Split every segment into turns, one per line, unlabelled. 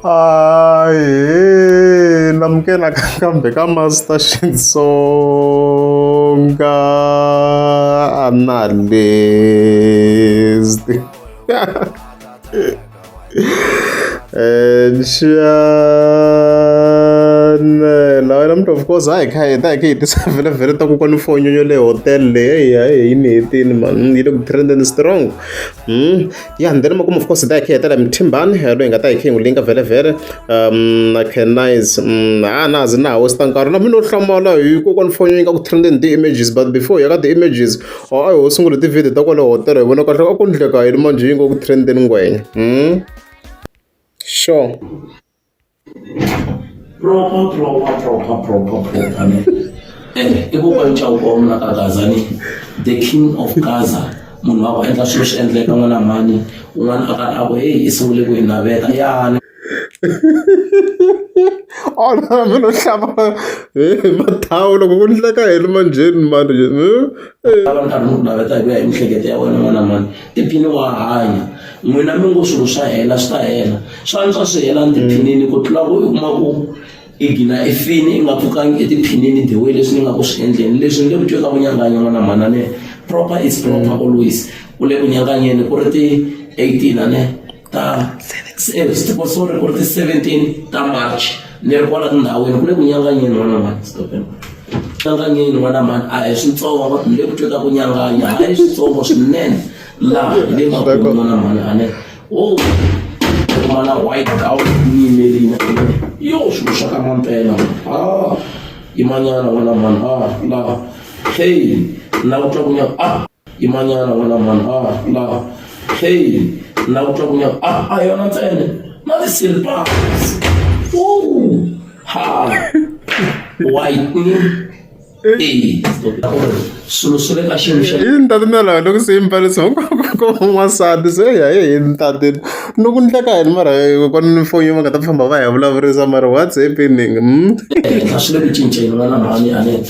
Aye, namukela kambe ka Master Xitsonga analyst. Nxanela wena mntu of course hayi kha hi ta hi khe hi tisa vele vele ta kokwana fonyo yo le hotel leyi hayi hi ni hetini mani yi le ku trendeni strong Mm. ya ndzi lima kuma of course hi ta hi khe hi tela mithimbani eh, loyi hi nga ta hi khe hi n'wi linga vhelevhele um na canize mm, a na zi na ha westa nkarhi na mina u hlamala hi kokwani foni yi nga ku trending ti-images but before ya ka ti-images or a hi ho sungula ti-video ta kwale hotela hi vona kahle a ku ndleka yini manjhe yi nga ku trending ngwenya mm. sure proper proper
proper proper proper ne and i ku kwani chau kwa mna ka Gaza ni the king of Gaza munhu wa ku endla swilo swi endleka n'wana mani un'wana a karhi a ku heyi i sungule ku hi naveta ya
ona oh, mi no hlava hi mathawu loko ku ndleka hi ri manjheni mani lava
nkarhi ni ku naveta hi ku ya hi mihleketo ya wena n'wana mani tiphini wa hanya n'wina mi ngo swilo swa hela swi ta hela swa antswa swi hela tiphinini ku tlula ku u kuma ku i gina i fini i nga pfukangi etiphinini the way leswi ni nga ku swi endleni leswi ni le ku twe ka ku nyanganya n'wana mhanane proper is proper always u le ku nyanganyeni ku ri ti-eighteen ane ta siku so ri ku ri ti-seventeen ta march ni ri kwala tindhawini ku le ku nyanganyeni n'wana mhani stopeni nyanganyeni n'wana mhani a hi switsongo ni le ku twa ta ku nyanganya a hi switsongo swinene laha hi le makulu n'wana mhani a ne o kuma na white gown ni yimelini yo swilo swa ka mampela a yimanyana n'wana mhani a laha hey na ku twa ku nyanga a yimanyana wena mhani a ah, la hey na ku twa ku nyaka a ah, a ah, yona ntsene na ti-silpas ha white eyi swilo swi le ka xiyimo xa yini tatimela wena ku
se yi mbarisa hinkwako n'wansati se ya ye yini tatini ni ku ndleka yini mara kona ni foni va nga ta famba va hi vulavurisa mara what's happening hmm? ehenhla swi
le ku cinceni wena mhani anete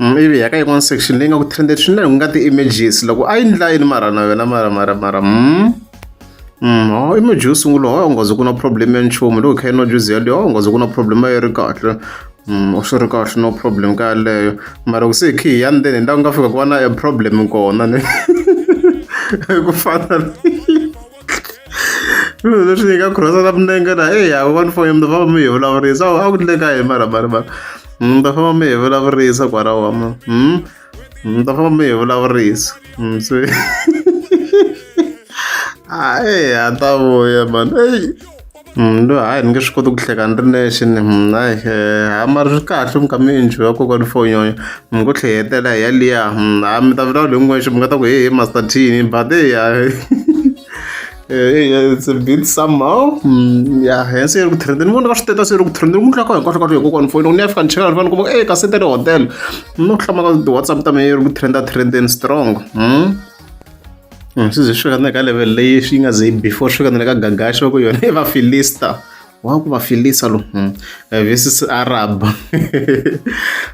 ivi hi ya ka yin'wana section leyi nga ku trended swinene ku nga ti-images loko a yi ndla yini mara na yona mara mara mara mm. Mm, oh, image yo sungula oh, ungaze ku na problem ya nchumu loko kha yi nwa juzi yaleyo oh, ungaze ku na problem a yi ri kahle Mm, swi ri kahle no problem ka yaleyo mara ku se khi hi ya ndzeni ni la ku nga fika ku va na a problem kona ni ku fana Swilo leswi hi nga khutaza na milenge na eyi a va ni foni mi ta famba mi hi vulavurisa a ku endleka yini mara mara mara mi ta famba mi hi vulavurisa kwalaho wa mina mi ta famba mi hi vulavurisa se a eya a ta vuya mhani eyi. Loyi hayi ni nge swi koti ku hleka ni ri nexe ni hayi ha mara swi kahle mi kha mi enjoy-a kokwani for nyonyo mi ngo tlhayetela hi yaliya ha mi ta vulavula hi n'wexe mi nga ta ku hehe master Thini but heyi ha it's a bit some how ya hi se ri ku trend ni vona ka switeta se ri ku trend ni n'wi tlaka hinkwaswo kwaswo hi kokwani foni loko ni ya fika ni cheka ni vona ni kuma ku e kasi i ta le hotel ni ku hlamba ka ti-Whatsapp ta mehe yi ri ku trend-a trend-eni strong . Hmm, swi ze swi fika ka level leyi swi nga ze before swi fika na le ka gagaxo ku yona i vafilista wa ku vafilisa lo hmm, eh, versus arab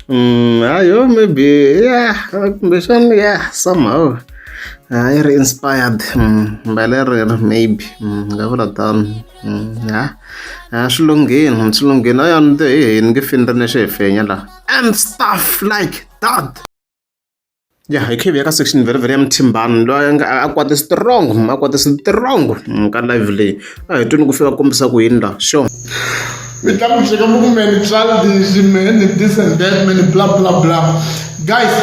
hmm, ayo maybe ya kumbexana ya somehow ah, i ri inspired mbele rero maybe nga vula tano ya ah, swi lunghini swi lunghini ayo ni te hi hini nge fini ri ne xi hi fenya laha and stuff like that ya hi kha hi ya ka section very very ya muthimbani loyi a nga a kwate strong a kwate strong ka live leyi a hi twini ku fika kombisa ku yini la sure mi tla
ku cheka muku me ni childish me ni this and that me ni bla bla bla guys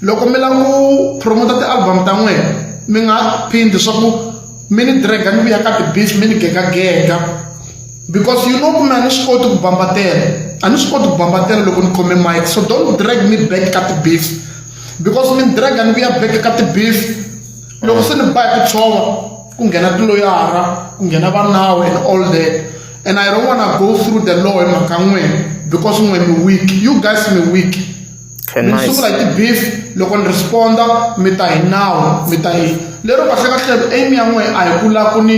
loko mi la ku promota ti-album ta n'wina mi nga phindi swa ku mi ni drag mi vuya ka ti-beach mi ni gegagega because you know kumbe a ni swi koti ku bambatela a ni swi koti ku bambatela loko ni khome mike so don't drag me back ka ti-beef because mi ni draga ni vuya back ka ti-beef loko se ni ba hi ku tshova ku nghena tiloyara ku nghena va nawu and all that and i don't wanna go through the law hi mhaka n'wina because n'we mi weak you guys mi weak mi ni sungula hi ti-beef loko ni responda mi ta hi nawu mi ta hi lero kahlekahle aim ya n'we a hi ku la ku ni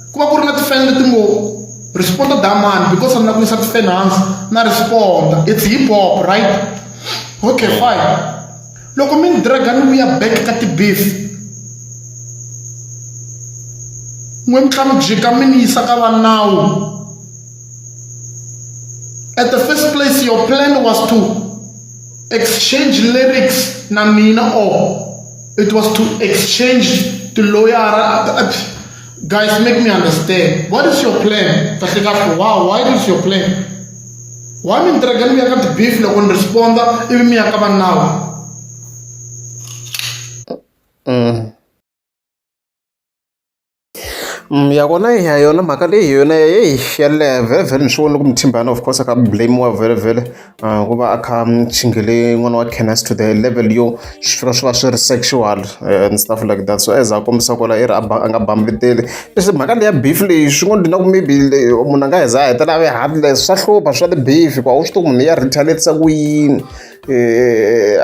ku va ku ri na tifeni leti ngo responda damani because ni la ku yisa tifeni hansi na responda it's hip hop right okay fine loko mi ni draga ni vuya back ka tibeef n'we mi tlha mi jika mi ni yisa ka vanawu at the first place your plan was to exchange lyrics na mina or it was to exchange tiloyara Guys, make me understand. What is your plan? Wow, why is your plan? Why me entregan mi akat beef lo kon responda ibi mi akaban now? Mm.
Mm, yakona ya yona mhaka leyi yona eyi ya leha vhele vhele ni swi vona loko muthimbana of course a ka blamiwa vhele vhele Uh, ku va a kha muchingele n'wana wa canis to the level yo swi fika swi va swi ri sexual eh, and stuff like that so as a kombisa kwala i ri a nga bambeteli leswi mhaka leya beef leyi swi ngo ndina ku maybe munhu a nga heza a hetela a ve heartless swa hlupha swa ti-beef ku a wu swi tiku munhu ya retaliatisa ku yini Eh,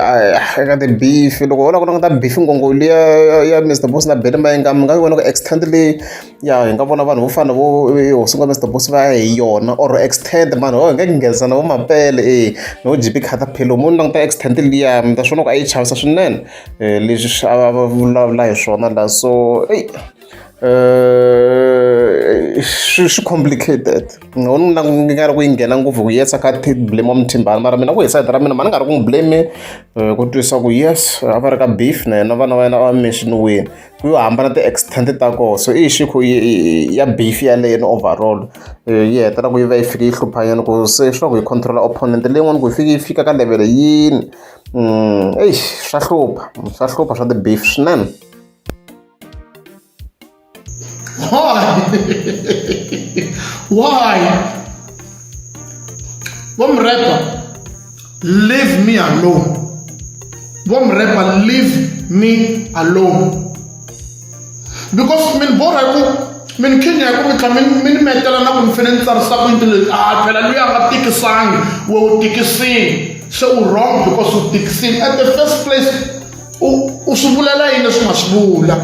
eka ti-beef loko ho la ku languta beef ngongoli ya ya mr bos na bele mayenga mi nga yi vona ku extent leyi Ya hi nga vona vanhu vo fana na vo Hosi N'wa Mister Boss va ya hi yona or Xtend mhani why hi nga nghenisa na vo Mapele e no J_P Caterpillar mo ni languta Xtend liya mi ta swi vona ku a yi chavisa swinene leswi swi a va va vulavula hi swona la so eyi swi swi complicated ni nga ni languta nga ri ku yi nghena ngopfu hi ku yes a kha a blame wa Muthimbani mara mina ku hi side ra mina mhani ni nga ri ku n'wi blame ku twisa ku yes a va ri ka beef na yena vana va yena a va mention-iwini. ku yo hambana ti-extent ta kona so i xikhu ya beef yaleyo ni overall yi hetela ku yi va yi fike yi hluphanyana ku se swa ku yi controla opponent leyin'wana ku yi fike yi fika ka level yini eyi swa hlupha swa hlupha swa ti-beef swinene why
why vomrepa leave me alone vho murema leave me alone because mini bo rhaya ku mini khinya ya ku mi tlha mi ni metela na ku ni fanele ni tsarisa ku yini leti a phela loyi a nga tikisangi we u tikisini se u wrong because u tikisini at the first place u u swi vulela yini leswi nga swi vula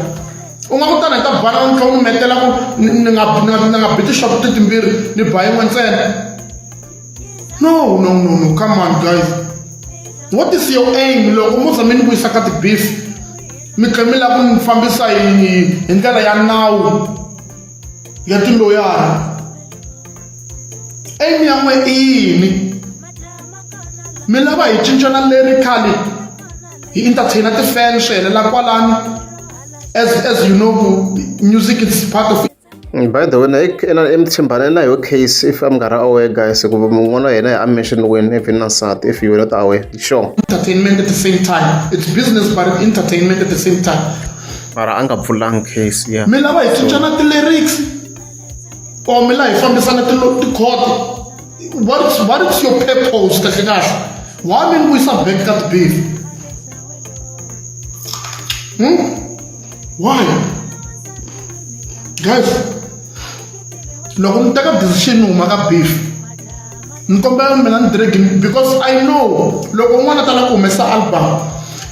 u nga kutana hi ta bana ni tlha u ni metela ku ni nga ni nga biti shop titimbirhi ni ba yin'we ntsena No, no, no, no. Come on, guys. What is your aim? Loko mo tshame ni vuyisa ka ti-beef mi tlhe mi lava ku ni fambisa yini hi ndlela ya nawu ya tiloyara aim ya n'we i yini mi lava hi cincana lyrically hi entertainer ti-fan swi helela kwalani as as you know music is part of
By the way na i mi tshembane na yoho case if a mi nga ri aware guys ku n'wana wa hina a mission wini if na nsati if you not aware sure entertainment at the same
time it's business but entertainment at the same time mara a nga
pfulanga case ya mi lava hi cincana
ti-lyrics or mi la hi fambisana tikhodi what is, what is your purpose kahle kahle why mi ni vuyisa back ka tibeef hmm? why guys loko mi teka decision huma ka beef ni kombela mina ni diregi because i know loko un'wana a tala ku humesa album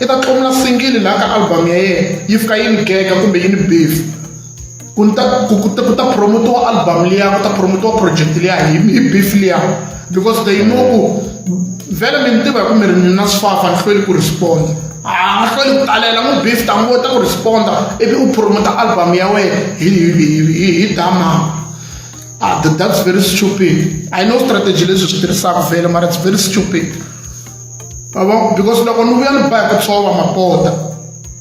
i ta tlomula singili laha ka album ya yena yi fika yi ni gega kumbe yi ni beef ku ni ta ku ku ta ku ta promotiwa album liya ku ta promotiwa project liya hi hi beef liya because they know ku vele mi ni tiva hi ku mi ri ni na swifafa ni hlweli ku respond a nga hlweli ku talela n'wi beef ta ngo ta ku responda ivi u promota album ya wena hi hi hi dama ah that's very stupid i know strategy leswi swi tirhisaka vele mara it's very stupid because loko ni vuya ni ba hi ku tshova mapota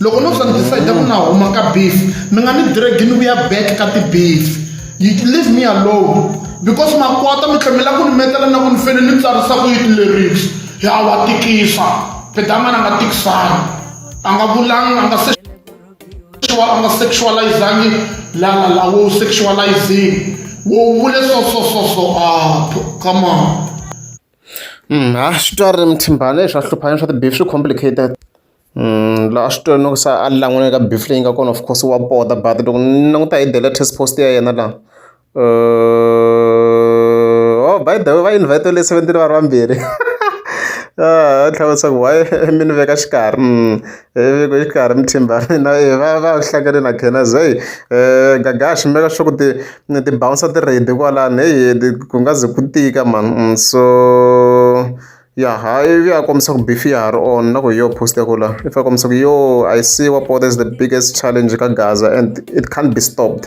loko no swa ni decide ku na huma ka beef mi nga ni dragi ni vuya back ka ti-beef you leave me alone because makwata mi tlhemela ku ni metela na ku ni fele ni tsarisa ku yi ti-lyrics ya wa tikisa pedamana nga tikisani a nga vulangi a nga se sexual ama sexualizangi lala la wo sexualizing wo vule so so so so ah come on a swi
twala muthimbani leswi a hluphana swa ti-beef swi complicated la a swi twala no ku se a lan'wela ka beef leyi nga kona of course wa pota but loko ni languta hi the latest post ya yena la ho by the way va invest-iwile seventeen va ri vambirhi a tlhela a vutisa ku why mi ni veka xikarhi . Viveko yi karhi mithimba na yena va va hlangane na Gainers heyi Gaga a swi maka sure ku ti ti bouncer ti ready kwalano heyi ku nga ze ku tika mhani so ya ha ivi a kombisa ku beef ya ha ri on na ku hi yo post ya ku la ivi a kombisa ku yo I see what is the biggest challenge ka gaza and it can't be stopped.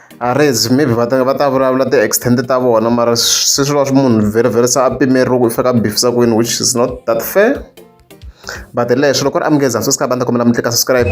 Arezi maybe va ta va ta vulavula ti-extent ta vona mara se swi va swi munhu very very se a pimeriwa ku i fika bifisa kwini which is not that fair but leswi loko ri amukeza so sika va ni ta kombela mi tlika subscribe